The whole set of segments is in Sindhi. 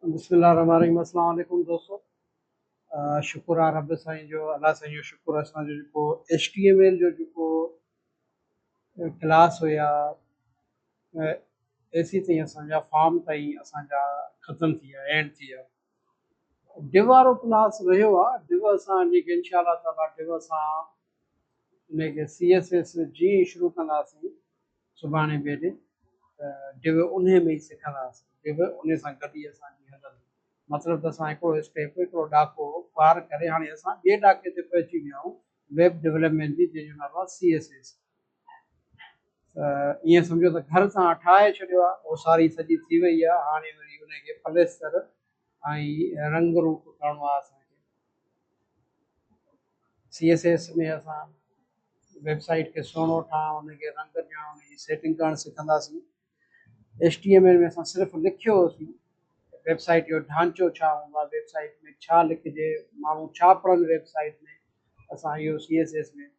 بسم الله الرحمن الرحيم السلام عليڪم دوستو شڪر آ رب سائين جو الله سائين جو شڪر اسان جو جيڪو ايچ ٽي ايم ايل جو جيڪو ڪلاس هيا اي سي تائين اسان جا فارم تائين اسان جا ختم ٿي ويا اينڊ ٿي ويا ڊو وارو ڪلاس رهيو آ ڊو اسان ان کي انشاء الله تعالی ڊو اسان ان کي سي ايس ايس جي شروع ڪنداسين سڀاڻي بيد ته ڊو انهي ۾ ئي سکنداس ڊو انهي سان گڏ ئي اسان جي هلندي مطلب ته اسان هڪڙو اسٽيپ هڪڙو ڏاڪو پار ڪري هاڻي اسان ٻئي ڏاڪي تي پهچي ويا آهيون ويب ڊولپمينٽ جي جنهن جو نالو آهي سي ايس ايس ته ائين سمجهو ته گهر سان ٺاهي ڇڏيو آهي اوساري سڄي ٿي وئي آهي هاڻي وري انهي کي پليستر ۽ رنگ روپ ڪرڻو آهي اسان کي سي ايس ايس ۾ اسان ويب سائيٽ کي سهڻو ٺاهڻ ان کي رنگ ڏيڻ ان جي سيٽنگ ڪرڻ سکنداسين ايس ٽي ايم ايل ۾ اسان صرف لکيو هوسين ويب سائيٽ جو ڍانچو ڇا هوندو آهي ويب سائيٽ ۾ ڇا لکجي ماڻهو ڇا پڙهن ويب سائيٽ ۾ اسان اهو سي ايس ايس ۾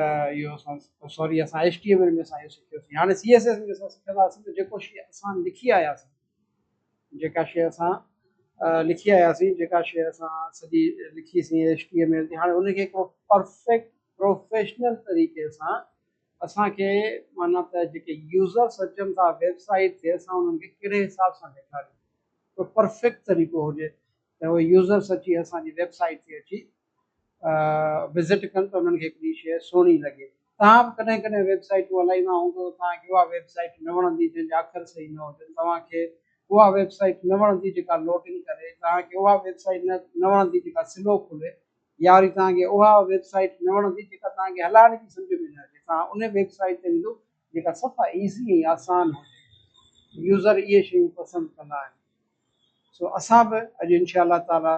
اهو اسان سوري اسان ايس ٽي ايم ايل ۾ اسان اهو سکيوسين هاڻي سي ايس ايس ۾ اسان سکنداسين ته جيڪو شيء اسان لکي آياسين جيڪا شيء اسان لکي آياسين، جيڪا شيء اسان سڄي لکي سين ايڇ ٽي ايم ايل تي هاڻي ان کي هڪڙو پرفيڪٽ پروفيشنل طريقي سان اسان کي معنيٰ ته جيڪي يوزرس اچن ٿا ويب سائيٽ تي اسان انهن کي ڪهڙي حساب سان ڏيکاريون ته پرفيڪٽ طريقو هجي ته يوزرس اچي اسان جي ويب سائيٽ تي اچي وزٽ ڪن ته انهن کي هڪڙي شيء سهڻي لڳي. توهان به ڪڏهن ڪڏهن ويب سائيٽون هلائيندا هوندو ته توهان کي اها ويب سائيٽ نه وڻندي جنهن جا اکر صحيح نه هجن. توهان کي اها ويب سائيٽ نه وڻندي جيڪا لوڊنگ ڪري. توهان کي اها ويب سائيٽ نه وڻندي جيڪا سلو کلي يا وري توهان کي اها ويب سائيٽ نه وڻندي جيڪا توهان کي هلائڻ جي سمجهه ۾ نه اچي. توهان انهي ويب سائيٽ تي ويندو جيڪا صفا ايزي ۽ آسان هجي. يوزر اهي شيون پسند ڪندا آهن. سو اسان به اڄ انشاء الله تعالي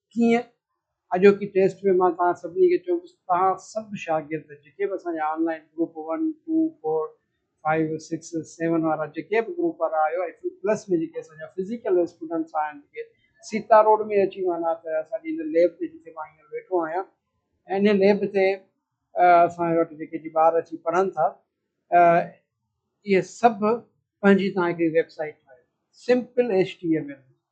ڪيئن؟ اڄوڪي ٽيسٽ ۾ مان توهان سڀني کي چوندس ته توهان سڀ شاگرد جيڪي به اسان جا online group one, two, four, five, six, seven وارا جيڪي به گروپ وارا آهيو ۽ فل پلس ۾ جيڪي اسان جا فزيڪل اسٽوڊنٽس آهن جيڪي سيتا روڊ ۾ اچي معنيٰ ته اسان جي هن ليب تي جتي مان هينئر ويٺو آهيان ۽ ان ليب تي اسان وٽ جيڪي جي ٻار اچي پڙهن ٿا اهي سڀ پنهنجي توهان هڪڙي ويب سائيٽ ٺاهيو simple H T M L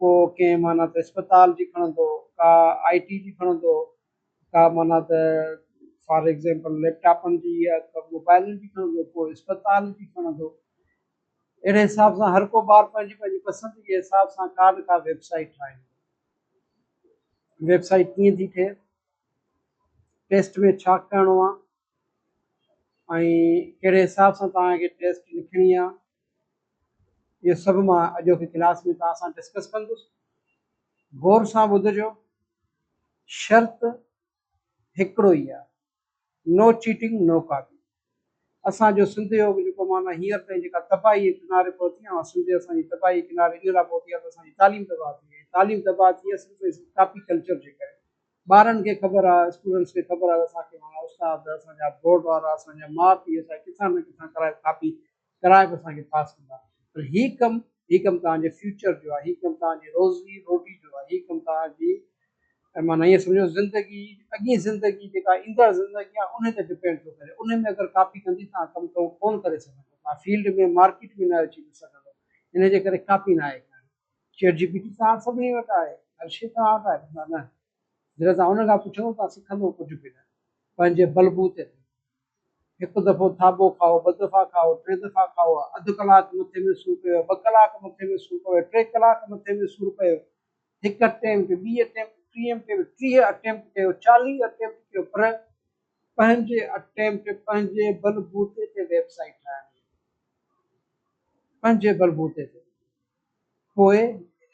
ڪو ڪنهن معنيٰ ته اسپتال جي کڻندو، ڪا آء ٽي جي کڻندو، ڪا معنيٰ ته فار ايگزيمپل ليپ ٽاپن جي يا موبائلن جي کڻندو، ڪو اسپتال جي کڻندو. اهڙي حساب سان هر ڪو ٻار پنهنجي پنهنجي پسند جي حساب سان ڪا نه ڪا ويب سائيٽ ٺاهيندو. ويب سائيٽ ڪيئن ٿي ٺهي، ٽيسٽ ۾ ڇا ڪرڻو آهي، ۽ ڪهڙي حساب سان توهان کي ٽيسٽ لکڻي آهي اهو سڀ مان اڄوڪي ڪلاس ۾ توهان سان ڊسڪس ڪندس غور سان ٻڌجو شرط هڪڙو ئي آهي نو چيٽنگ نو ڪاپي اسانجو سنڌ جو جيڪو معنی هينئر تائين جيڪا تباهي ڪناري پهتي آهي سنڌ اسانجي تباهي ڪناري ان لاء پهتي آهي ته اسانجي تعليم تباهه ٿي وئي تعليم تباهه ٿي وئي صرف ڪاپي ڪلچر جي ڪري ٻارن کي خبر آ اسٽوڊنٽس کي خبر آ ته اسان کي ماڻهو استاد اسان جا بورڊ وارا اسان جا ماء پيء اسان کي ڪٿان نه ڪٿان ڪرائي ڪاپي ڪرائي به اسان کي پاس ڪندا پر هي ڪم هي ڪم توهان جي فيوچر جو آ هي ڪم توهان جي روزي روٽي جو آ هي ڪم توهان جي مان ائين سمجهو زندگي اڳين زندگي جيڪا ايندڙ زندگي آ ان تي ڊپينڊ ٿو ڪري ان ۾ اگر ڪاپي ڪندي توهان ڪم ڪون ڪري سگهندو توهان فيلڊ ۾ مارڪيٽ ۾ نه اچي سگهندو ان جي ڪري ڪاپي ناهي ڪرڻي. چيٽ جي پي ٽي ته هاڻ سڀني وٽ آهي، هر شيء توهان وٽ آهي ڀلا نه؟ جڏهن توهان ان کان پڇندو ته سکندو ڪجهه به نه، پنهنجي بلبوت تي ٿيندو. هڪ دفعو ٿاٻو کائو، ٻه دفعا کائو، ٽي دفعا کائو، اڌ ڪلاڪ مٿي ۾ سور پيو، ٻه ڪلاڪ مٿي ۾ سور پيو، ٽي ڪلاڪ مٿي ۾ سور پيو، هڪ اٽيمپٽ، ٻي اٽيمپٽ، ٽي اٽيمپٽ، ٽيهه اٽيمپٽ ڪيو، چاليهه اٽيمپٽ ڪيو پر پنهنجي اٽيمپٽ، پنهنجي بلبوتي تي ويب سائيٽ ٺاهڻي آهي. پنهنجي بلبوتي تي. پوء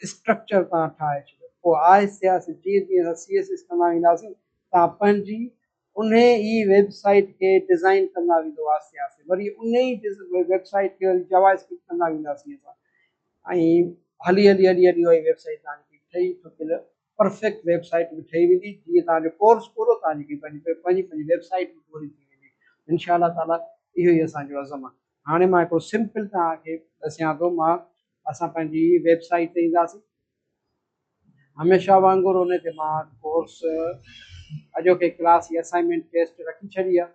اسٽرڪچر تان ٺاهي ڇڏيو پوء آء سياسي جيئن جيئن اسان سي ايس ايس ڪندا وينداسين تان پنهنجي انهي ئي ويب سائيٽ کي ڊزائين ڪندا ويندو آء سياسي وري انهي ئي ويب سائيٽ کي وري جاوا اسڪرپٽ ڪندا وينداسين اسان ۽ هلي هلي هلي هلي اهي ويب سائيٽ تان ٺهي ٺڪيل پرفيڪٽ ويب سائيٽ به ٺهي ويندي جيئن توهان جو ڪورس پورو توهان جي پنهنجي پنهنجي ويب سائيٽ به پوري ٿي ويندي انشاء الله تعالي اهو ئي اسان جو عزم آهي هاڻي مان هڪڙو سمپل توهان کي ڏسيان ٿو مان اسان پنهنجي ويب سائيٽ تي اينداسين هميشه وانگر ان تي مان ڪورس اڄوڪي ڪلاس جي اسائنمنٽ ٽيسٽ رکي ڇڏي آهي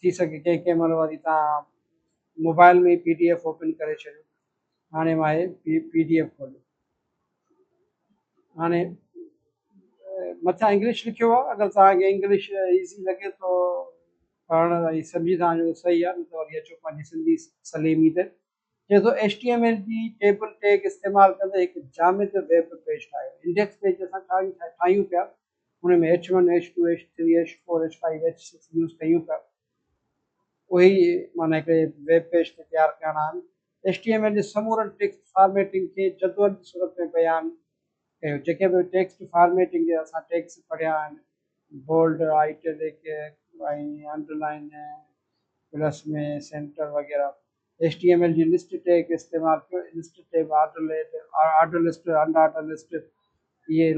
ٿي سگهي ڪنهن ڪنهن مهل وري تان mobile ۾ P D F open ڪري ڇڏيو هاڻي مان هي پي پي ڊي ايف کوليو هاڻي مٿان انگلش لکيو هو اگر تان کي انگلش ايزي لڳي تو پڙهڻ ۽ سمجهي تان جو صحيح آ نه تو وري اچو پنهنجي سنڌي سليمي تي چئي ٿو ايڇ ٽي ايم ايل جي ٽيبل ٽيگ استعمال ڪندي هڪ جامد ويب پيج ٺاهيو انڊيڪس پيج جي اسان ٺاهيون پيا ان ۾ H one H two H three H four H five H six use ڪيون پيا اهي معنيٰ هڪڙي ويب پيج کي تيار ڪرڻا آهن ايڇ ٽي ايم ايل جي سمورن ٽيڪسٽ فارميٽنگ کي جدول جي صورت ۾ بيان ڪيو جيڪي به ٽيڪسٽ فارميٽنگ جي اسان ٽيڪس پڙهيا آهن bold italic ۽ underline plus ۾ centre وغيره HTML جي لسٽ ٽيگ استعمال ڪيو، list tag order list, order list, unorder list اهي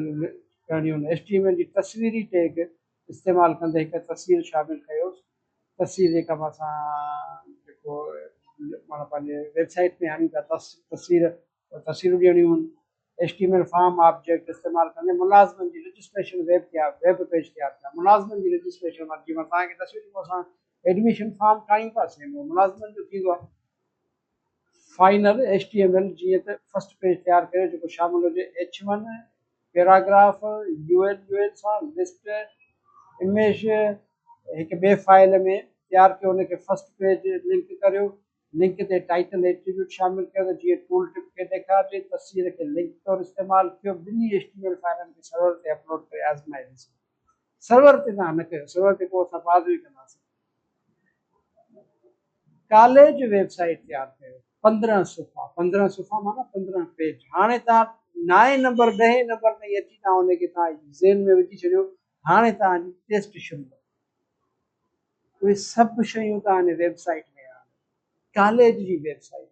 ڪرڻيون آهن. HTML جي تصويري ٽيگ استعمال ڪندي هڪ تصوير شامل ڪيو، تصوير جيڪا به اسان جيڪو معنيٰ پنهنجي ويب سائيٽ ۾ آڻيون ٿا تصوير ته تفصيلون ڏيڻيون H T M L form object استعمال ڪندي ملازمن جي رجسٽريشن ويب تي ويب پيج تيار ڪيا ملازمن جي رجسٽريشن ورڪ جي مان توهان کي دسيو جيڪو اسان ايڊميشن فارم ٺاهيون ٿا سيم اهو ملازمن جو ٿيندو آهي final H T M L جيئن ته فرسٽ پيج تيار ڪريو جيڪو شامل هجي H one paragraph U L U L سان لسٽ اميج هڪ ٻي فائل ۾ تيار ڪيو ان کي فرسٽ پيج لنڪ ڪريو لنڪ تي ٽائيٽل ۽ ايٽريبيوٽ شامل ڪيو ته جيئن ٽول ٽپ کي ڏيکارجي، تصوير کي لنڪ طور استعمال ڪيو، ٻنهي ايڇ ٽي ايم ايل فائلن کي سرور تي اپلوڊ ڪري آزمائي ڏسو. سرور تي تان نه ڪيو، سرور تي پوء اسان بعد ۾ ڪنداسين. ڪاليج ويب سائيٽ تيار ڪيو. پندرهن صفحا، پندرهن صفحا معنيٰ پندرهن پيج. هاڻي تان نائين نمبر، ڏهين نمبر تائين اچي تان ان کي تان ذهن ۾ وجهي ڇڏيو هاڻي توهان جي ٽيسٽ شروع ڪندو. اهي سڀ شيون توهان جي ويب سائيٽ ۾ آهن. ڪاليج جي ويب سائيٽ،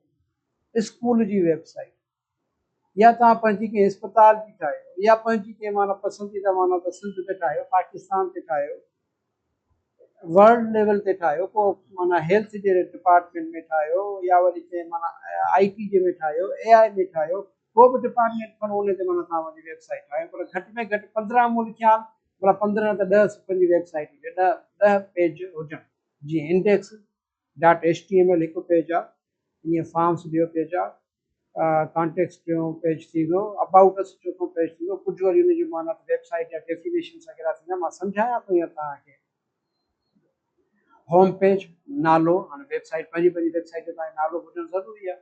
اسڪول جي ويب سائيٽ يا توهان پنهنجي ڪنهن اسپتال جي ٺاهيو يا پنهنجي ڪنهن معنيٰ پسنديده معنيٰ ته سنڌ تي ٺاهيو، پاڪستان تي ٺاهيو، ورلڊ ليول تي ٺاهيو ڪو معنيٰ هيلٿ جي ڊپارٽمينٽ ۾ ٺاهيو يا وري ڪنهن معنيٰ آئي ٽي جي ۾ ٺاهيو، اي آئي ۾ ٺاهيو، ڪو به ڊپارٽمينٽ کڻو ان تي معنيٰ توهان جي ويب سائيٽ آهي پر گهٽ ۾ گهٽ پندرهن مون خيال معنيٰ پندرهن نه ته ڏهه صفحن جي ويب سائيٽ هجي ڏهه ڏهه پيج هجن جيئن index dot H T M L هڪ پيج آهي ائين فارمس ٻيو پيج آهي ڪانٽيڪس ٽيون پيج ٿي ويو ابائوٽ اس چوٿون پيج ٿي ويو ڪجهه وري ان جي معنيٰ ته ويب سائيٽ جا ڊيفينيشنس وغيره ٿيندا مان سمجهايان ٿو ائين توهان کي هوم پيج نالو هاڻي ويب سائيٽ پنهنجي پنهنجي ويب سائيٽ جو تهان کي نالو هجڻ ضروري آهي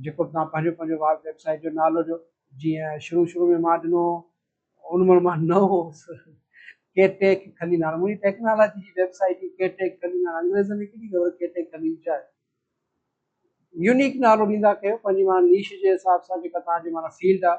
جيڪو بھ تھان پنھنجو پنھنجو ويب سائيٽ جو نالو ڏيو جيئن شروع شروع ۾ مان ڏنو ھو ان مھل مان نئون ھوس ڪي ٽيڪ خليل ھاڻ منھنجي ٽيڪنالاجي جي ويب سائيٽ ڪي ٽيڪ خليل ھاڻ انگريزن کي ڪيڏي خبر ڪي ٽيڪ خليل ڇا آھي يونيڪ نالو ڏيندا ڪيو پنھنجي معنيٰ نيش جي حساب سان جيڪا تھان جي معنيٰ فيلڊ آھي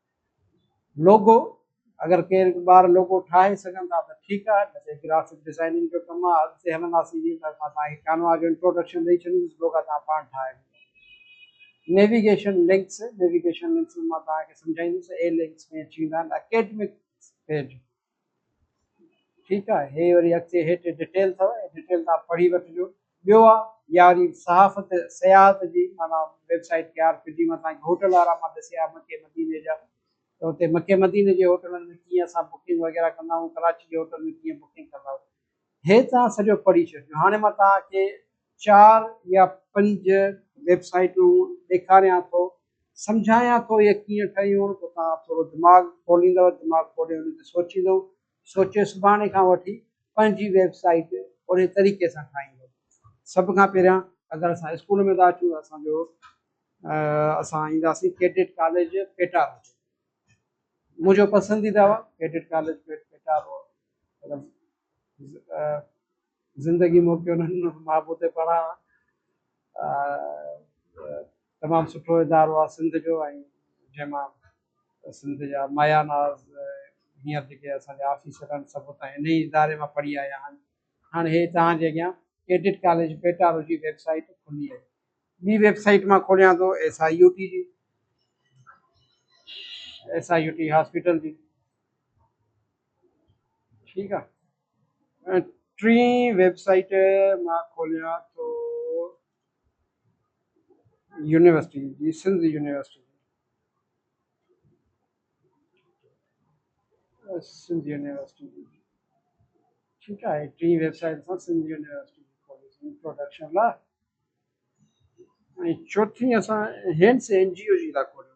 لوگو اگر ڪير ٻار لوگو ٺاهي سگهن ٿا ته ٺيڪ آهي نه ته هي گرافڪ ڊزائننگ جو ڪم آهي اڳتي هلنداسين جيئن ته مان تهان کي ڪانوا جو انٽروڊڪشن ڏئي ڇڏيندس لوگا تهان پاڻ ٺاهي وٺو نيويگيشن لنڪس نيويگيشن لنڪس مان تهان کي سمجهائيندس اي لنڪس ۾ اچي ويندا آهن اڪيڊمڪ پيج ٺيڪ آهي هي وري اڳتي هيٺ ڊيٽيل اٿو ۽ ڊيٽيل تان پڙهي وٺجو ٻيو آ ياري صحافت سياحت جي معنی ويب سائيٽ کي آر پي ڊي مٿان هوٽل وارا مان ڏسي آ مڪي مديني جا ته هتي مڪي مديني جي هوٽلن ۾ ڪيئن اسان بڪنگ وغيره ڪندا آهيون ڪراچي جي هوٽل ۾ ڪيئن بڪنگ ڪندا آهيون هي توهان سڄو پڙهي ڇڏيو هاڻي مان توهان کي چار يا پنج ويب سائيٽون ڏيکاريان ٿو سمجهايان ٿو هي ڪيئن ٺهيون پوء توهان ٿورو دماغ کوليندؤ دماغ کولي ان تي سوچيندؤ سوچي سڀاڻي کان وٺي پنهنجي ويب سائيٽ اهڙي طريقي سان ٺاهيندؤ سڀ کان پهريان اگر اسان اسڪول ۾ ٿا اچون ته اسان جو اسان اينداسين ڪيڊٽ ڪاليج پيٽا روڊ منهنجو پسنديده هو ڪيڊٽ ڪاليج پيٽا روڊ زندگي موکي انهن محبوب تي پڙهان تمام سٺو ادارو آهي سنڌ جو ۽ جنهن مان سنڌ جا مايا ناز هينئر جيڪي اسان جا آفيسر آهن سڀ اتان ان ئي اداري مان پڙهي آيا آهن هاڻي هي توهان جي اڳيان ڪيڊٽ ڪاليج پيٽارو جي ويب سائيٽ کلي آهي ٻي ويب سائيٽ مان کوليان ٿو ايس آء يو ٽي جي S I U T hospital جي ٺيڪ آ ٽين ويب سائيٽ مان کوليان ٿو يونيورسٽي جي سنڌ يونيورسٽي سنڌ يونيورسٽي جي ٺيڪ آهي ٽين ويب سائيٽ سان سنڌ يونيورسٽي جي کوليسين انٽروڊڪشن لا ۽ چوٿين اسان هينس اين جي او جي لا کوليون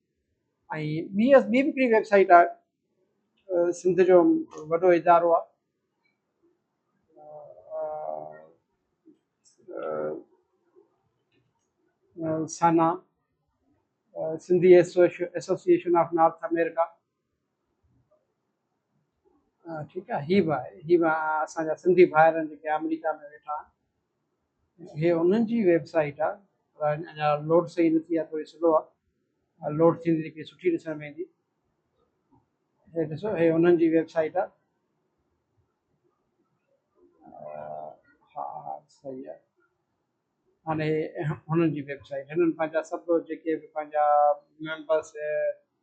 ۽ ٻي ٻي به هڪڙي ويب سائيٽ آهي سنڌ جو وڏو ادارو آهي SANA Sindhi Association of North America ٺيڪ آ هي با هي با اسان جا سنڌي ڀائر آهن جيڪي آمريڪا ۾ ويٺا آهن هي انهن جي ويب سائيٽ آ اڃا لوڊ صحيح نه ٿي آ ٿوري سلو آ لوڊ ٿيندي جيڪي سٺي ڏسڻ ۾ ايندي هي ڏسو هي انهن جي ويب سائيٽ آ ها ها صحيح آ هاڻي هنن جي ويب سائيٽ هنن پنهنجا سڀ جيڪي به پنهنجا ميمبرس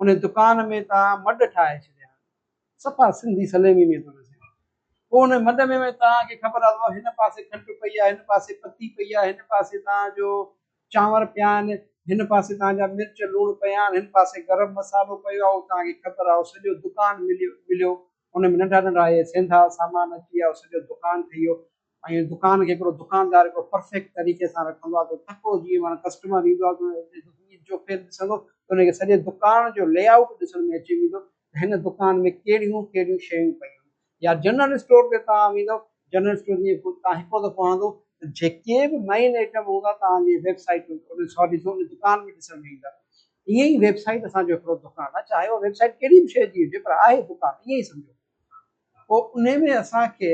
ان دڪان ۾ ته مڏ ٺاهي ڇڏيا آهن. صفا سنڌي سليمي ۾ ٿو ڏسين. پوء ان مڏ ۾ به توهان کي خبر اٿو هن پاسي کنڊ پئي آهي، هن پاسي پتي پئي آهي، هن پاسي توهان جو چانور پيا آهن، هن پاسي توهان جا مرچ لوڻ پيا آهن، هن پاسي گرم مصالحو پيو آهي، اهو توهان کي خبر آهي، اهو سڄو دڪان مليو. ان ۾ ننڍا ننڍا اهي سينڌا سامان اچي ويا، سڄو دڪان ٺهي ويو ۽ دڪان کي هڪڙو دڪاندار هڪڙو پرفيڪٽ طريقي سان رکندو آهي ته تڪڙو جيئن معنيٰ ڪسٽمر ايندو آهي ته هو عيد جو فير ڏسندو ته ان کي سڄي دڪان جو لي آئوٽ ڏسڻ ۾ اچي ويندو ته هن دڪان ۾ ڪهڙيون ڪهڙيون شيون پيون آهن يا جنرل اسٽور تي توهان ويندو جنرل اسٽور جيئن توهان هڪڙو دفعو آندو ته جيڪي به مين آئٽم هوندا توهان جي ويب سائيٽ سوري دڪان ۾ ڏسڻ ۾ ايندا ائين ئي ويب سائيٽ اسان جو هڪڙو دڪان آهي چاهي اها ويب سائيٽ ڪهڙي به شيء جي هجي پر آهي دڪان ائين ئي سمجهو پوء ان ۾ اسان کي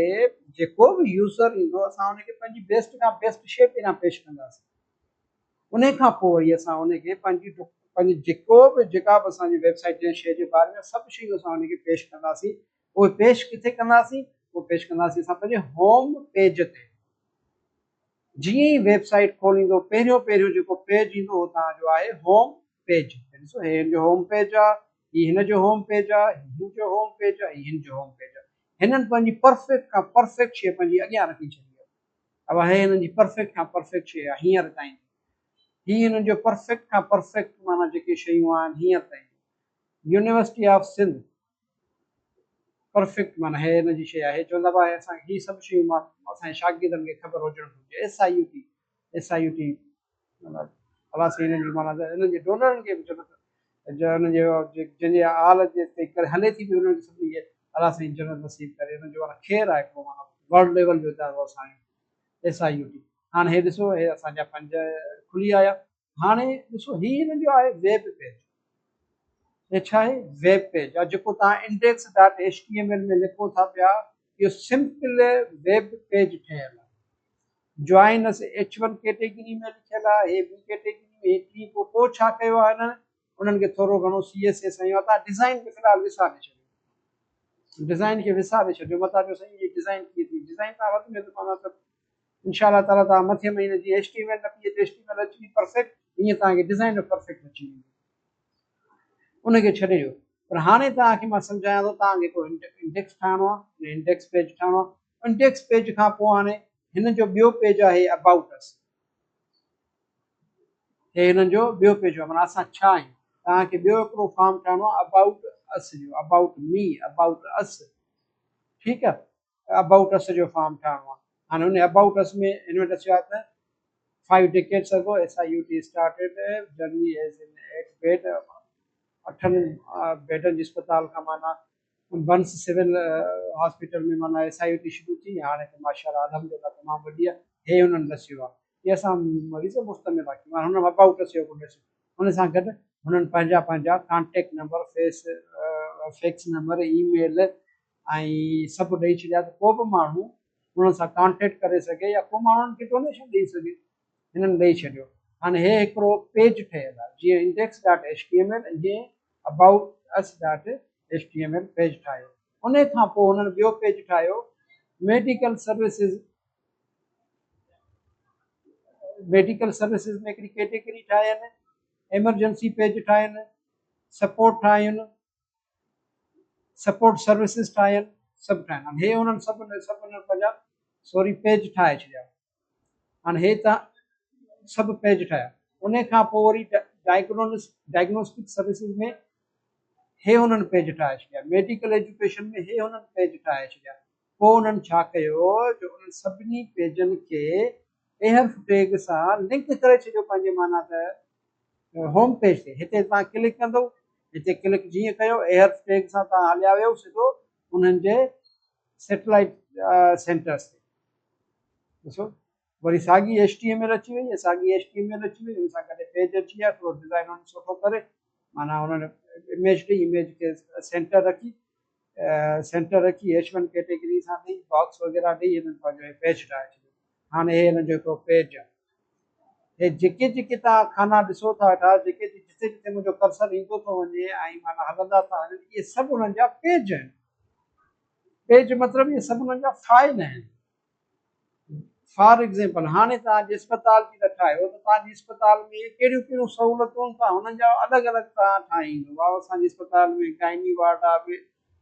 جيڪو به يوزر ايندو اسان ان کي پنهنجي بيسٽ کان بيسٽ شيء پهريان پيش ڪنداسين ان کان پوء وري اسان ان کي پنهنجي پنهنجي جيڪو به جيڪا به اسان جي ويب سائيٽ جنهن شيء جي باري ۾ سڀ شيون اسان ان کي پيش ڪنداسين اهي پيش ڪٿي ڪنداسين اهي پيش ڪنداسين اسان پنهنجي هوم پيج تي جيئن ئي ويب سائيٽ کوليندو پهريون پهريون جيڪو پيج ايندو اهو توهان جو آهي هوم پيج ڏسو هي هن جو هوم پيج آ هي هن جو هوم پيج آ هي هن جو هوم پيج آ هي هن جو هوم پيج آ هنن پنهنجي پرفيڪٽ کان پرفيڪٽ شي پنهنجي اڳيان رکي ڇڏي اها هي هنن جي پرفيڪٽ کان پرفيڪٽ شي آ هينئر تائين هي هنن جو پرفيڪٽ کان پرفيڪٽ معنيٰ جيڪي شيون آهن هينئر تائين يونيورسٽي آف سنڌ پرفيڪٽ معنيٰ هي ان جي شيء آهي چوندا هئا اسان کي هي سڀ شيون مان اسان جي شاگردن کي خبر هجڻ گهرجي S I U T S I U T معنيٰ الا سين ان جي معنيٰ ان جي ڊونرن کي به چوندا جو ان جي جن جي آل جي تي ڪري هلي ٿي به ان جي سڀني کي الا سين جنت نصيب ڪري ان جو خير آهي هڪڙو معنيٰ ورلڊ ليول جو ادارو اسان جو ايس آء يو ٽي هاڻ هي ڏسو هي اسان جا پنج کلي آيا هاڻي ڏسو هي هن جو آهي ويب پيج هي ڇا آهي ويب پيج يا جيڪو تان index dot H T M L ۾ لکو ٿا پيا اهو سمپل ويب پيج ٺهيل آهي join us H one category ۾ لکيل آهي هي بي ڪيٽيگري ۾ هي ٽي پوء پوء ڇا ڪيو آهي هنن انهن کي ٿورو گهڻو سي ايس ايس ۽ متان ڊيزائن کي في الحال وساري ڇڏيو ڊيزائن کي وساري ڇڏيو متان جو سائين هي ڊيزائن ڪيئن ٿي ڊيزائن تان وڌ ۾ ته پاڻ انشاء الله تعالي توهان مٿين مهيني جي ايچ ٽي ايم ايل نه P H H T M L اچي وئي پرفيڪٽ ائين توهان کي ڊيزائن به پرفيڪٽ اچي ويندو ان کي ڇڏي ڏيو پر هاڻي توهان کي مان سمجهايان ٿو توهان کي هڪڙو انڊيڪس ٺاهڻو آهي انڊيڪس پيج ٺاهڻو آهي انڊيڪس پيج کان پوء هاڻي هن جو ٻيو پيج آهي اباؤٽ اس هي هن جو ٻيو پيج آهي مانا اسان ڇا آهيون توهان کي ٻيو هڪڙو فارم ٺاهڻو آهي اباؤٽ اس جو اباؤٽ مي اباؤٽ اس ٺيڪ آهي ابائوٽ اس جو فارم ٺاهڻو آهي هاڻي ان ابائوٽ اس ۾ هن وٽ اچيو آهي ته five decades ago S I U T started journey as an eight bed اٺن بيڊن جي اسپتال کان مانا بنس سول هاسپيٽل ۾ مانا ايس آء يو ٽي شروع ٿي هاڻي ته ماشاء الله الحمد لله تمام وڏي آهي هي هنن ڏسيو آهي هي اسان مريض مستمل آهي هن ابائوٽ اس جو اگو ڏسيو ان سان گڏ هنن پنهنجا پنهنجا ڪانٽيڪٽ نمبر فيس فيڪس نمبر اي ميل ۽ سڀ ڏئي ڇڏيا ته ڪو به ماڻهو انهن سان ڪانٽيڪٽ ڪري سگهي يا ڪو ماڻهو انهن کي ڊونيشن ڏئي سگهي هنن ڏئي ڇڏيو هاڻي هي هڪڙو پيج ٺهيل آهي جيئن index dot H T M L ۽ جيئن about us dot H T M L page ٺاهيو ان کان پوء هنن ٻيو پيج ٺاهيو ميڊيڪل سروسز ميڊيڪل سروسز ۾ هڪڙي ڪيٽيگري ٺاهين ايمرجنسي پيج ٺاهين سپورٽ ٺاهين سپورٽ سروسز ٺاهين سڀ ٺاهين هاڻي هي انهن سڀ سڀ انهن پنهنجا سوري پيج ٺاهي ڇڏيا هاڻي هي تان سڀ پيج ٺاهيا ان کان پوء وري ڊائگنوس ڊائگنوسٽڪ سروسز ۾ هي انهن پيج ٺاهي ڇڏيا ميڊيڪل ايجوڪيشن ۾ هي انهن پيج ٺاهي ڇڏيا پوء انهن ڇا ڪيو جو انهن سڀني پيجن کي ايحرف ٽيگ سان لنڪ ڪري ڇڏيو پنهنجي معنيٰ ته هوم پيج تي هتي توهان ڪلڪ ڪندو هتي ڪلڪ جيئن ڪيو ايحرف ٽيگ سان توهان هليا ويو سڌو انهن جي سيٽلائيٽ سينٽرس تي ڏسو وري ساڳي ايڇ ٽي ايم ايل اچي وئي ساڳي ايڇ ٽي ايم ايل اچي وئي ان سان ڪڏهن پيج اچي ويا ٿورو ڊزائن ان سٺو ڪري معنيٰ انهن اميج ڏئي اميج کي سينٽر رکي سينٽر رکي ايڇ ون ڪيٽيگري سان ڏئي باڪس وغيرا ڏئي هنن پنهنجو پيج ٺاهي ڇڏيو هاڻي هي هنن جو هڪڙو پيج آهي هي جيڪي جيڪي تان خانا ڏسو ٿا اٺا جيڪي جيڪي جتي جتي منهنجو ڪرسر ايندو ٿو وڃي ۽ معنيٰ هلندا ٿا هلن اهي سڀ انهن جا پيج آهن پيج مطلب اهي سڀ انهن جا فائل آهن فار ايگزيمپل هاڻي توهان جي اسپتال جي ته ٺاهيو ته توهان جي اسپتال ۾ ڪهڙيون ڪهڙيون سهولتون ته هن جا الڳ الڳ توهان ٺاهيندو واء اسان جي اسپتال ۾ گائني وارڊ آهي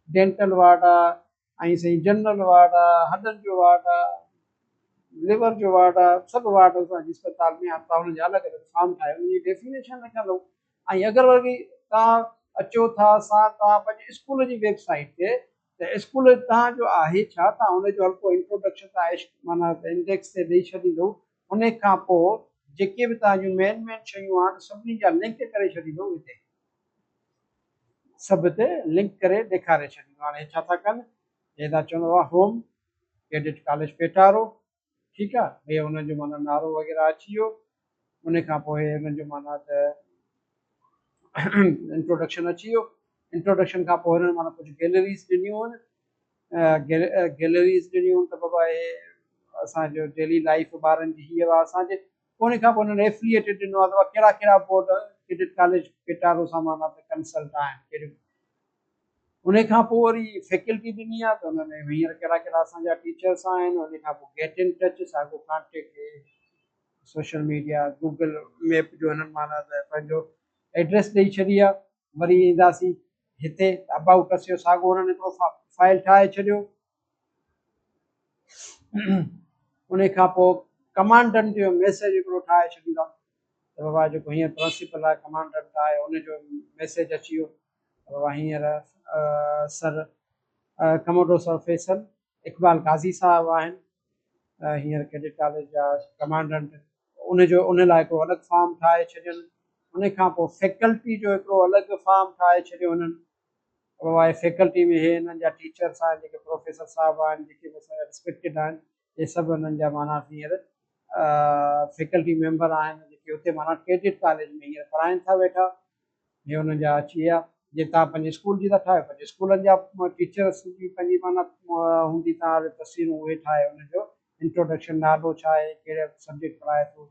ڊينٽل وارڊ آهي ۽ سائين جنرل وارڊ آهي هڏن جو وارڊ آهي ليور جو وارڊ آهي سڀ وارڊ اسان جي اسپتال ۾ آهن توهان هن جا الڳ الڳ فارم ٺاهيو ان جي ڊيفينيشن لکندو ۽ اگر وري توهان اچو ٿا سا توهان پنهنجي اسڪول جي ويب سائيٽ تي ته اسڪول توهان جو آهي ڇا؟ توهان ان جو هلڪو انٽروڊڪشن توهان عشق معنيٰ ته انڊيڪس تي ڏئي ڇڏيندو. ان کان پوء جيڪي به توهان جون مين مين شيون آهن سڀني جا لنڪ ڪري ڇڏيندو هتي. سڀ تي لنڪ ڪري ڏيکاري ڇڏيندو. هاڻي هي ڇا ٿا ڪن؟ هي ٿا چون Home، ڪيڊٽ ڪاليج پيٽارو، ٺيڪ آ ڀئي انهن جو معنيٰ نعرو وغيره اچي ويو ان کان پوء انهن جو معنيٰ ته انٽروڊڪشن اچي ويو انٽروڊڪشن کان پوء انهن معنيٰ ڪجهه گيلريز ڏنيون آهن گيلريز ڏنيون ته بابا هي اسانجو ڊيلي لائف ٻارن جي هي هوا اسانجي پوء ان کان پوء انهن ايفليئيٽيڊ ڏنو آهي ته ڪهڙا ڪهڙا بورڊ ڪيڊٽ ڪاليج ڪيٽارو سامان ته ڪنسلٽ آهن ڪهڙيون انهي کان پوء وري فيڪلٽي ڏني آهي ته ان ۾ هينئر ڪهڙا ڪهڙا اسان جا ٽيچرس آهن انهي کان پوء گيٽ ان ٽچ ساڳو contact social media Google map جو هنن معنيٰ ته پنهنجو ايڊريس ڏئي ڇڏي آهي وري اينداسين هتي ابائوٽ اس جو ساڳو هنن هڪڙو فائل ٺاهي ڇڏيو ان کان پوء ڪمانڊنٽ جو ميسيج هڪڙو ٺاهي ڇڏيندا ته بابا جيڪو هينئر پرنسپل آهي ڪمانڊنٽ آهي ان جو ميسيج اچي ويو بابا هينئر سر ڪموڊو سر فيصل اقبال قاضي صاحب آهن هينئر ڪيڊٽ ڪاليج جا ڪمانڊنٽ ان جو ان لاء هڪڙو الڳ فارم ٺاهي ڇڏيو ان کان پوء فيڪلٽي جو هڪڙو الڳ فارم ٺاهي ڇڏيو انهن اها آهي فيڪلٽي ۾ هي هنن جا ٽيچرس آهن جيڪي پروفيسر صاحب آهن جيڪي به اسان جا رسپيڪٽيڊ آهن اهي سڀ هنن جا معنيٰ هينئر فيڪلٽي ميمبر آهن جيڪي هتي معنيٰ ڪيڊٽ ڪاليج ۾ هينئر پڙهائين ٿا ويٺا اهي هنن جا اچي ويا جي تان پنهنجي اسڪول جي ٿا ٺاهيو پنهنجي اسڪولن جا ٽيچرس جي پنهنجي معنيٰ هوندي تان تصويرون اهي ٺاهي هن جو انٽروڊڪشن نالو ڇا آهي ڪهڙا سبجيڪٽ پڙهائي ٿو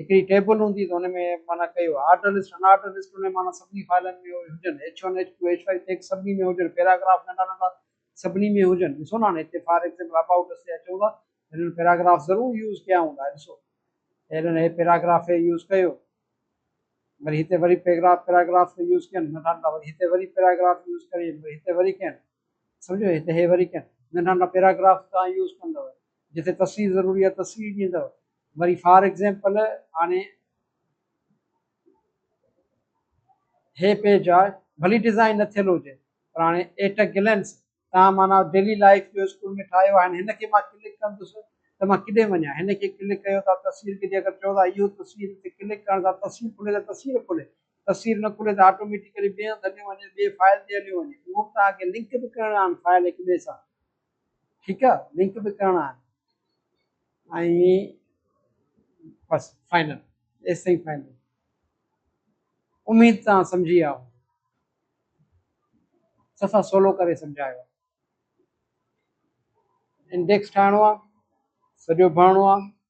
هڪڙي ٽيبل هوندي ته ان ۾ معنيٰ ڪيو آرڊر لسٽ ان آرڊر لسٽ ان ۾ معنيٰ سڀني فائلن ۾ اهي هجن H one H two H five tags سڀني ۾ هجن پيراگراف ننڍا ننڍا سڀني ۾ هجن ڏسو نه هاڻي هتي فار ايگزيمپل ابائوٽ اس تي اچون ٿا هنن پيراگراف ضرور يوز ڪيا هوندا هي ڏسو هنن هي پيراگراف هي يوز ڪيو وري هتي وري پيراگراف پيراگراف تي يوز ڪين ننڍا ننڍا وري هتي وري پيراگراف يوز ڪري وري هتي وري ڪين سمجھو هتي هي وري ڪين ننڍا ننڍا پيراگراف تان يوز ڪندو جتي تصوير ضروري آهي تصوير ڏيندو وري فار ايگزيمپل هاڻي هي پيج آ ڀلي ڊيزائن نه ٿيل هجي پر هاڻي ايٽ ا گلنس تان معنيٰ ڊيلي لائف جو اسڪول ۾ ٺاهيو آهي هن کي مان ڪلڪ ڪندس ته مان ڪيڏي وڃان هن کي ڪلڪ ڪيو ٿا تصوير کي جي اگر چئو ٿا اهو تصوير تي ڪلڪ ڪرڻ سان تصوير کلي ته تصوير کلي تصوير نه کلي ته آٽوميٽيڪلي ٻئي هنڌ هليو وڃي ٻئي فائل تي هليو وڃي اهو به تان کي لنڪ به ڪرڻا آهن فائل هڪ ٻئي سان ٺيڪ آ لنڪ به ڪرڻا آهن ۽ بس فائنل ايستائين فائنل اميد تان سمجهي آ صفا سولو ڪري سمجهايو انڊيڪس ٺاهڻو آ سڄو ڀرڻو آ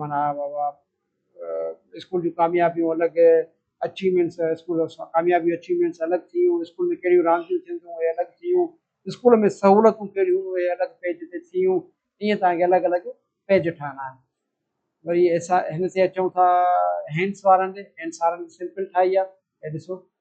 معنيٰ اسڪول جون ڪاميابيون الڳ اچيومينٽس اسڪول جون ڪاميابيون اچيومينٽس الڳ ٿيون اسڪول ۾ ڪهڙيون رانديون ٿينديون اهي الڳ ٿيون اسڪول ۾ سهولتون ڪهڙيون هيون اهي الڳ پيج تي ٿيون ائين تهان کي الڳ الڳ پيج ٺاهڻا آهن وري هن تي اچون ٿا هينس وارن ڏي هينس وارن سمپل ٺاهي آهي هي ڏسو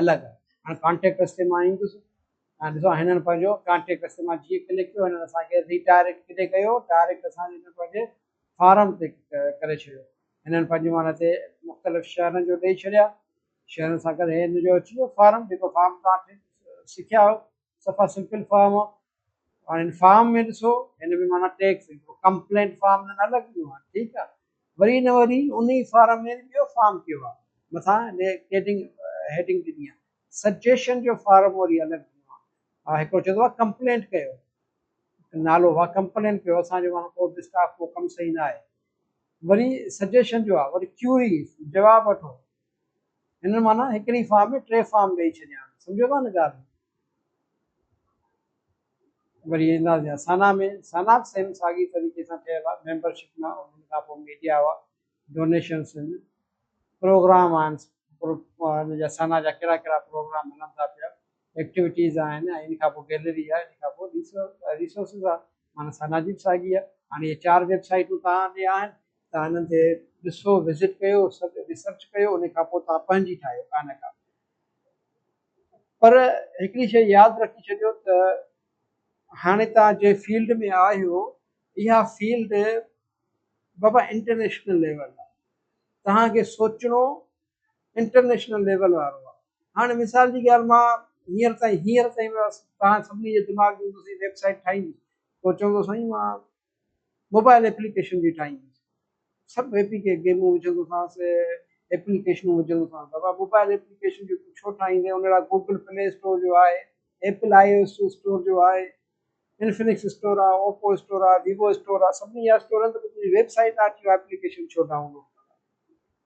الڳ هاڻي ڪانٽيڪٽ رستي مان ايندس ۽ ڏسو هنن پنهنجو ڪانٽيڪٽ رستي مان جيئن ڪلڪ ڪيو هنن اسان کي ري ڊائريڪٽ ڪيڏي ڪيو ڊائريڪٽ اسان جي پنهنجي فارم تي ڪري ڇڏيو هنن پنهنجي مان هتي مختلف شهرن جو ڏيئي ڇڏيا شهرن سان گڏ هي هن جو اچي ويو فارم جيڪو فارم تان سکيا آهيو صفا سمپل فارم آ هاڻي هن فارم ۾ ڏسو هن ۾ معنيٰ ٽيڪس ڪمپلينٽ فارم نه لڳندو آ ٺيڪ آ وري نه وري انهي فارم ۾ ٻيو فارم ڪيو آ مٿان هيڊنگ هيڊنگ ڏني آ سجيشن جو فارم وري الڳ ڏنو آ هڪڙو چوندو آ ڪمپلينٽ ڪيو نالو آ ڪمپلينٽ ڪيو اسان جو معنيٰ ڪو به اسٽاف ڪو ڪم صحيح نه آهي وري سجيشن جو آ وري ڪيوري جواب وٺو هن معنيٰ هڪڙي فارم ۾ ٽي فارم ڏئي ڇڏيا آهن سمجهيو ٿا نه ڳالهه وري اينداسي يا سانا ۾ سانا به سيم ساڳي طريقي سان ٺهيل آهي ميمبرشپ ۾ ان کان پوء ميڊيا هئا ڊونيشنس آهن پروگرام آهن ان جا سانا جا ڪهڙا ڪهڙا پروگرام هلن ٿا پيا ايڪٽيوٽيز آهن ۽ ان کان پوء گيلري آهي ان کان پوء ريسورسز آهي معنيٰ سانا جي به ساڳي آهي هاڻي اهي چار ويب سائيٽون توهان ڏي آهن توهان انهن تي ڏسو وزٽ ڪيو سڀ ريسرچ ڪيو ان کان پوء توهان پنهنجي ٺاهيو ڪا نه ڪا پر هڪڙي شيء ياد رکي ڇڏيو ته هاڻي توهان جنهن فيلڊ ۾ آهيو اها فيلڊ بابا انٽرنيشنل ليول تهان کي سوچڻو انٽرنيشنل ليول وارو آ هاڻي مثال جي ڳالهه مان هينئر تائين هينئر تائين بس توهان سڀني جي دماغ ۾ هوندو سائين ويب سائيٽ ٺاهيندي پوء چوندو سائين مان موبائل ايپليڪيشن جي ٺاهيندي سڀ اي پي کے گيمون وجهندو سانس ايپليڪيشنون وجهندو سانس بابا موبائل ايپليڪيشن جو تون ڇو ٺاهيندي ان لاء گوگل پلي اسٽور جو آهي Apple I O S store جو آهي انفنڪس اسٽور آ اوپو اسٽور آ ويوو اسٽور آ سڀني جا اسٽور آهن ته تنهنجي ويب سائيٽ آ اچي ايپليڪيشن ڇو ڊائونلوڊ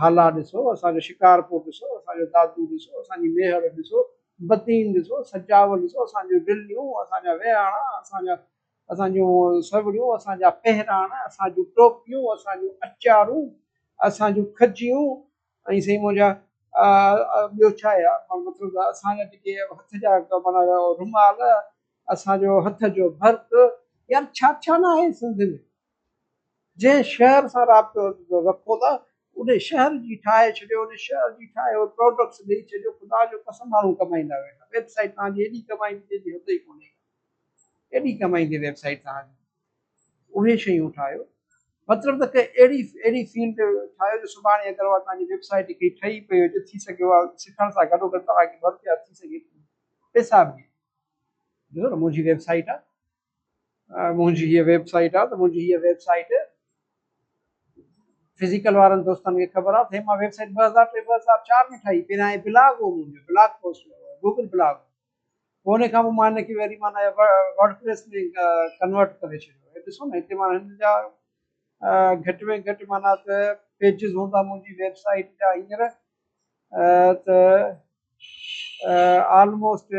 هالا ڏسو، اسان جو شڪارپور ڏسو، اسان جو دادو ڏسو، اسان جي ميهڙ ڏسو، بدين ڏسو، سجاول ڏسو، اسان جون ڊليون، اسان جا ويهاڻا، اسان جا اسان جون سوڙهيون، اسان جا پهراڻ، اسان جون ٽوپيون، اسان جون اچارون، اسان جون کجيون ۽ سائين منهنجا ٻيو ڇا آهي ماڻهو مطلب اسان جا جيڪي هٿ جا مانا رومال، اسان جو هٿ جو ڀرت يار ڇا ڇا نه آهي سنڌ ۾. جنهن شهر سان رابطو رکو ٿا انهي شهر جي ٺاهي ڇڏيو انهي شهر جي ٺاهي اهي پراڊڪٽس ڏئي ڇڏيو خدا جو قسم ماڻهو ڪمائيندا ويٺا ويب سائيٽ توهان جي ايڏي ڪمائيندي جيڏي حد ئي ڪونهي ايڏي ڪمائيندي ويب سائيٽ توهان جي اهي شيون ٺاهيو مطلب ته ڪي اهڙي اهڙي فيلڊ ٺاهيو جو سڀاڻي اگر اها توهان جي ويب سائيٽ ڪي ٺهي پئي هجي ٿي سگهي اها سکڻ سان گڏو گڏ توهان کي ورڪ ٿي سگهي پئي پئسا به ڏي ڏسو نه منهنجي ويب سائيٽ آهي منهنجي هيء ويب سائيٽ آ ته منهنجي هيء ويب سائيٽ فزيڪل وارن دوستن کي خبر آ ته هي مان ويب سائيٽ ٻه هزار ٽي ٻه هزار چار ۾ ٺاهي پهريان هي بلاگ هو منهنجو بلاگ پوسٽ گوگل بلاگ پوء ان کان پوء مان ان کي وري معنيٰ ورڊ پريس ۾ ڪنورٽ ڪري ڇڏيو ڏسو نه هتي معنيٰ هن جا گهٽ ۾ گهٽ معنيٰ ته پيجز هوندا منهنجي ويب سائيٽ جا هينئر ته آلموسٽ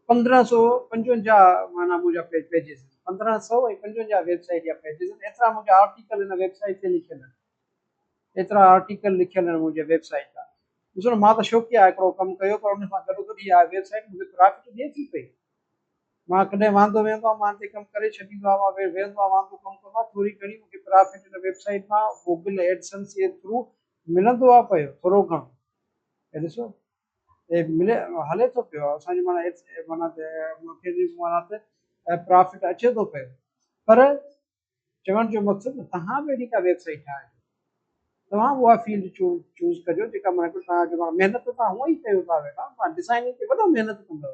پندرهن سؤ پنجونجاهه معنيٰ منهنجا پيجز پندرهن سؤ ۽ پنجونجاهه ويب سائيٽ جا پيجز آهن ايترا منهنجا آرٽيڪل هن ويب سائيٽ تي لکيل آهن ايترا آرٽيڪل لکيل آهن منهنجي ويب سائيٽ تان ڏسو نا مان ته شوقيا هڪڙو ڪم ڪيو پر ان سان گڏو گڏ هي آهي ويب سائيٽ مونکي پرافٽ ڏي ٿي پئي مان ڪڏهن واندو ويهندو آهيان مان تي ڪم ڪري ڇڏيندو آهيان مان ويهندو آهيان واندو ڪم ڪندو آهيان ٿوري گهڻي مونکي پرافٽ هن ويب سائيٽ مان گوگل ايڊسنس جي ٿرو ملندو آ پيو ٿورو گهڻو هي ڏسو هي ملي هلي ٿو پيو اسان جي معنيٰ معنيٰ ته ملڪ جي معنيٰ ته پرافٽ اچي ٿو پيو پر چوڻ جو مقصد تهان به اهڙي ڪا ويب سائيٽ ٺاهي توهان اها فيلڊ چو چوز ڪجو جيڪا معنيٰ ته تهان جو معنيٰ محنت ته تهان هونئن ئي ڪيو ٿا ويٺا تهان ڊزائننگ تي وڏو محنت ڪندو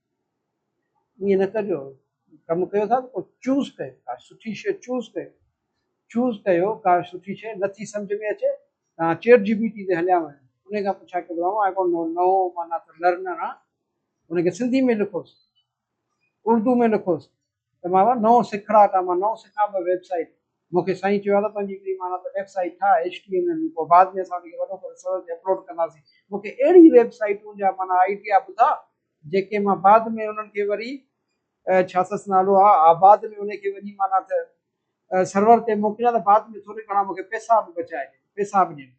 ائين نه ڪجو ڪم ڪيو ٿا ڪو چوز ڪيو ڪا سٺي شيء چوز ڪيو چوز ڪيو ڪا سٺي شيء نٿي سمجھ ۾ اچي تان چيٽ جي بي ٽي تي هليا وڃو ان کان پڇا ڪي ٻڌايو آء ڊونٽ نو نو معنيٰ ته لرنر آ ان کي سنڌي ۾ لکوس اردو ۾ لکوس ته مان اهو نئون سکڙا ته مان نئون سکان به ويب سائيٽ مون کي سائين چيو آهي ته تنهنجي هڪڙي معنيٰ ته ويب سائيٽ ٺاهه ايڇ ٽي ايم ايل ۾ پوء بعد ۾ اسان ان کي وڏو ڪري سرور تي اپلوڊ ڪنداسين مون کي اهڙي ويب سائيٽون جا معنيٰ آئيڊيا ٻڌا جيڪي مان بعد ۾ انهن کي وري ڇا سس نالو آهي آء بعد ۾ ان کي وڃي معنيٰ ته سرور تي موڪليان ته بعد ۾ ٿوري گهڻا مون کي پيسا به بچائي ڏين پيسا به ڏين.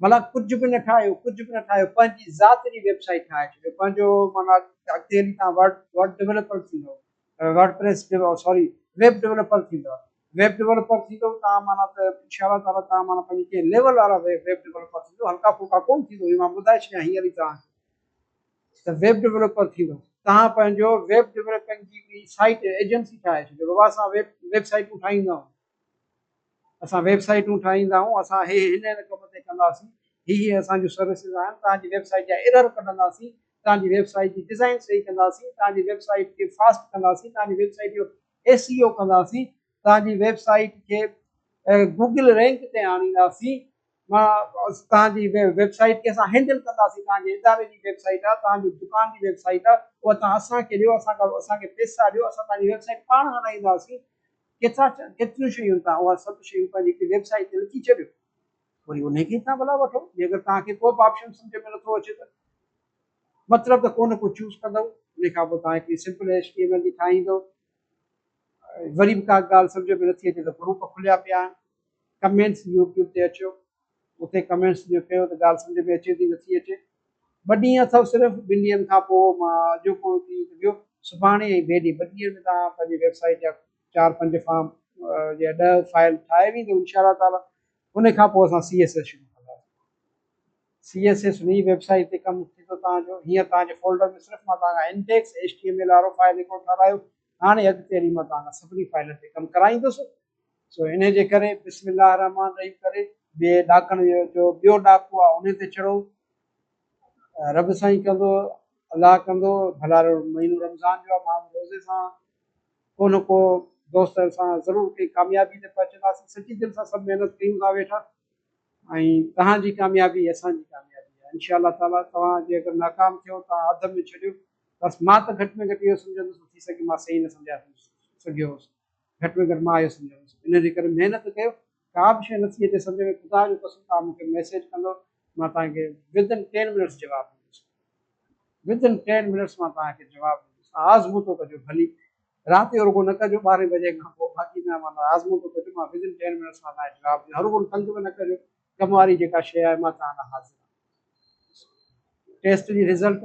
ملان ڪجهه به نه ٺاهيو ڪجهه به نه ٺاهيو پنهنجي ذات جي ويب سائيٽ ٺاهي ڇڏيو پنهنجو معنيٰ اڳتي هلي تان ورڊ ورڊ ڊيولپر ٿيندو WordPress sorry web developer ٿيندو ويب ڊيولپر ٿيندو تان معنيٰ ته انشاء الله تعالی تان معنيٰ پنهنجي ڪنهن ليول وارا ويب ڊيولپر ٿيندو هلڪا ڦلڪا ڪون ٿيندو هي مان ٻڌائي ڇڏيان هينئر ئي تان ته ويب ڊيولپر ٿيندو تان پنهنجو ويب ڊيولپنگ جي سائيٽ ايجنسي ٺاهي ڇڏيو بابا اسان ويب ويب سائيٽون ٺاهيندا آهيون اسان ويب سائيٽون ٺاهيندا آهيون اسان هي هن هن ڪم تي ڪنداسين هي هي اسان جون سروسز آهن توهان جي ويب سائيٽ جا ايرر ڪڍنداسين توهان جي ويب سائيٽ جي ڊزائين صحيح ڪنداسين توهان جي ويب سائيٽ کي فاسٽ ڪنداسين توهان جي ويب سائيٽ جو ايس اي او ڪنداسين توهان جي ويب سائيٽ کي گوگل رينڪ تي آڻينداسين توهان جي ويب سائيٽ کي اسان هينڊل ڪنداسين توهان جي اداري جي ويب سائيٽ آهي توهان جي دڪان جي ويب سائيٽ آهي اها توهان اسان کي ڏيو اسان کي اسان کي پيسا ڏيو اسان توهان جي ويب سائيٽ پاڻ هلائينداسين ڪيترا ٿيا، ڪيتريون شيون تان اها سڀ شيون پنهنجي هڪڙي ويب سائيٽ تي لکي ڇڏيو وري انهي کي تان ڀلا وٺو جي اگر توهان کي ڪو به آپشن سمجهه ۾ نٿو اچي ته مطلب ته ڪونه ڪو چوز ڪندؤ انهي کان پوء توهان هڪڙي simple H T M L جي ٺاهيندؤ وري به ڪا ڳالهه سمجهه ۾ نٿي اچي ته گروپ کليا پيا آهن ڪمينٽس يوٽيوب تي اچو اتي ڪمينٽس جيئن ڪيو ته ڳالهه سمجهه ۾ اچي ٿي نٿي اچي ٻه ڏينهن اٿو صرف ٻن ڏينهن کان پوء مان اڄوڪو ڏينهن ته ويو سڀاڻي ۽ ٻئي ڏينهن ٻن ڏينهن ۾ توهان پنهنجي ويب سائيٽ جا چار پنج فارم يا ڏهه فائل ٺاهي ويندو انشاء الله تعاليٰ ان کان پوء اسان سي ايس ايس شروع سی ایس ایس نئي ويب سائيٽ تي ڪم ٿي ٿو توهان جو هيئر توهان جي فولڊر ۾ صرف مان توهان کان index H T M L وارو فائل هڪڙو ٺارايو هاڻي اڳتي هلي مان توهان کان سڀني فائلن تي ڪم ڪرائيندس سو انهيء جي ڪري بسم الله الرحمٰن الرحيم ڪري ٻئي ڏاڪڻ جو ٻيو ڏاڪو آهي انهيء تي چڙهو. رب سائين ڪندو الله ڪندو ڀلا مهينو رمضان جو آهي مان روزي سان ڪو نه ڪو دوست سان ضرور ڪنهن ڪاميابي تي پهچنداسين سچي دل سان سڀ محنت ڪيون ٿا ويٺا ۽ توهان جي ڪاميابي اسان جي ڪاميابي آهي انشاء الله تعالٰي توهان جي اگر ناڪام ٿيو توهان اڌ ۾ ڇڏيو بس مان ته گهٽ ۾ گهٽ اهو سمجهندس ٿي سگهي مان صحيح نه سمجهايو سگهيو هوس گهٽ ۾ گهٽ مان اهو سمجهندس ان جي ڪري محنت ڪيو ڪا به شيء نٿي اچي سمجهه ۾ خدا جو قسم تان مون کي ميسيج ڪندو مان توهان کي ودن ٽين منٽس جواب ڏيندس ودن ٽين منٽس مان توهان کي جواب ڏيندس آزمو ٿو ڪجو ڀلي رات جو رڳو نه ڪجو ٻارهين بجي کان پوء باقي نه مان آزمو ٿو ڪجو مان ودن ٽين منٽس مان توهان کي جواب ڏيندس رڳو تنگ به نه ڪجو ڪم واري جيڪا شيء آهي مان توهان لاء حاضر آهيان. ٽيسٽ جي رزلٽ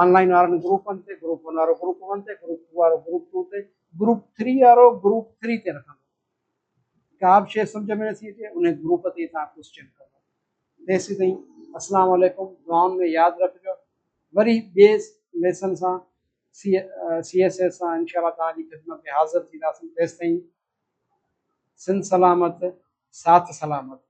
آن لائين وارن گروپن تي، گروپ ون وارو گروپ ون تي، گروپ ٽو وارو گروپ ٽو تي، گروپ ٿري وارو گروپ ٿري تي رکندو. ڪا به شيء سمجهه ۾ نٿي اچي انهي گروپ تي توهان ڪوسچن ڪندا. تيسين تائين اسلام عليڪم دعائن ۾ ياد رکجو وري ٻئي ليسن سان سي ايس ايس سان انشاء الله توهان جي خدمت ۾ حاضر ٿينداسين تيستائين سنڌ سلامت ساٿ سلامت.